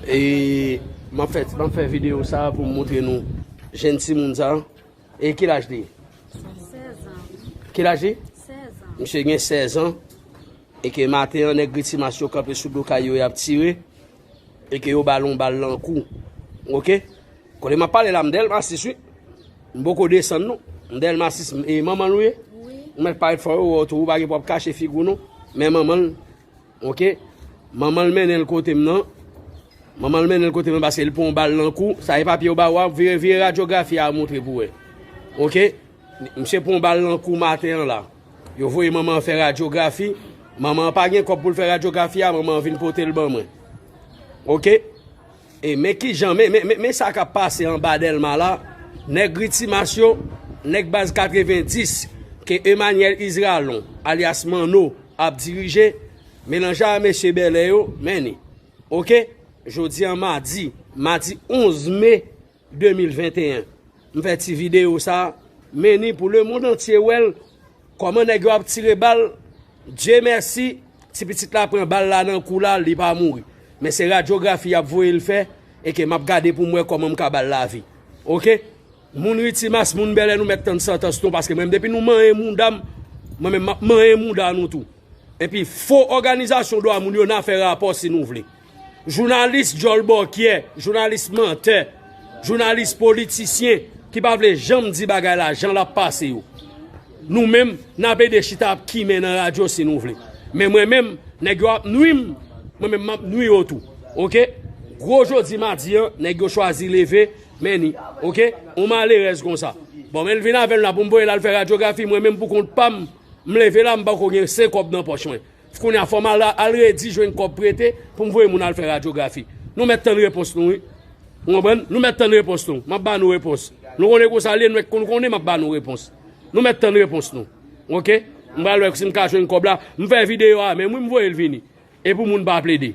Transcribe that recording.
E map fè map fè video sa pou m montre nou jenn ti moun sa e ki laj li? 16 an. Ki laj li? 16 an. Misye gen 16 an e ke maten an nèg britimas yo kanpe sou do kay yo yap tire E ke yo bal yon bal lan kou ou ok. Kote map pale la m delma 6 wi. M poko desann non. M delma 6 e manman l ou ye? Wi. Ou met parèt fò yo wè w tou ou pa gen pou ap kache figi w non. Men manman l ok. Manman l mennen l kote m nan. Manman l mennen l kote m nan paske l pran yon bal lan kou. Sa e papye yo ba ou a. Vire radyografi a moutre pou wè. Ok. Misye pran yon bal lan kou maten an la. Yo voye manman an fè radyografi, manman an pa gen kòb pou l fè radyografi a, manman an vin pote l ban mwen. Ok? E men ki jan, men, men, men, men sa k ap pase anba Dèlma la, nèg Ritimas yo, nèg Baz 90, ke Emanyèl Izralon, alyas Manno, ap dirije, melanje a mesye Bèlè yo, men ni. Ok? Jodi an madi, madi 11 me. 2021 m fè ti video sa meni pou le mond antye wèl kòman nèg yo ap tire bal Dye mèsi ti pitit la pran bal la nan kou la li pa mouri men se radyografi yap voye l fè e ke map gade pou m wè kòman m ka bal lavi ok moun ritimas moun bèlè nou mèt tann santans nou paske mwen depi nou manyen mouda m mwen men map manyen mouda nou tou epi fo òganizasyon dwa moun yo nan fè rapò si nou vle. Jounalis djòl bòkyè, jounalis mantè, jounalis politisyen ki pa vle janm di bagay la jan l ap pase yo. Nou menm, n ap ede chita ap kimen nan radyo si nou vle. Men mwen menm, nèg yo ap nwi m, mwen menm m ap nwi yo tou. Ok? Gwo jodi madi an, nèg yo chwazi leve men ni. Ok? Yon malerèz kon sa. Bon, men l vin avè l la pou m voye l al fè radyografi, mwen menm pou kont pa m, m leve la m pako gen senkòb nan pòch mwen. Kounya fòm al redi jwenn kòb prete poum voye moun al fè radyografi nou mèt tann repons nou wi ou konprann nou mèt tann repons nou map ba nou repons nou konnen konsa liye nou mèt konn konnen map ba nou repons nou mèt tann repons nou ok m pral wè sim ka jwenn kòb la m fè videyo a menm wi m voyel vini epou moun pa plede.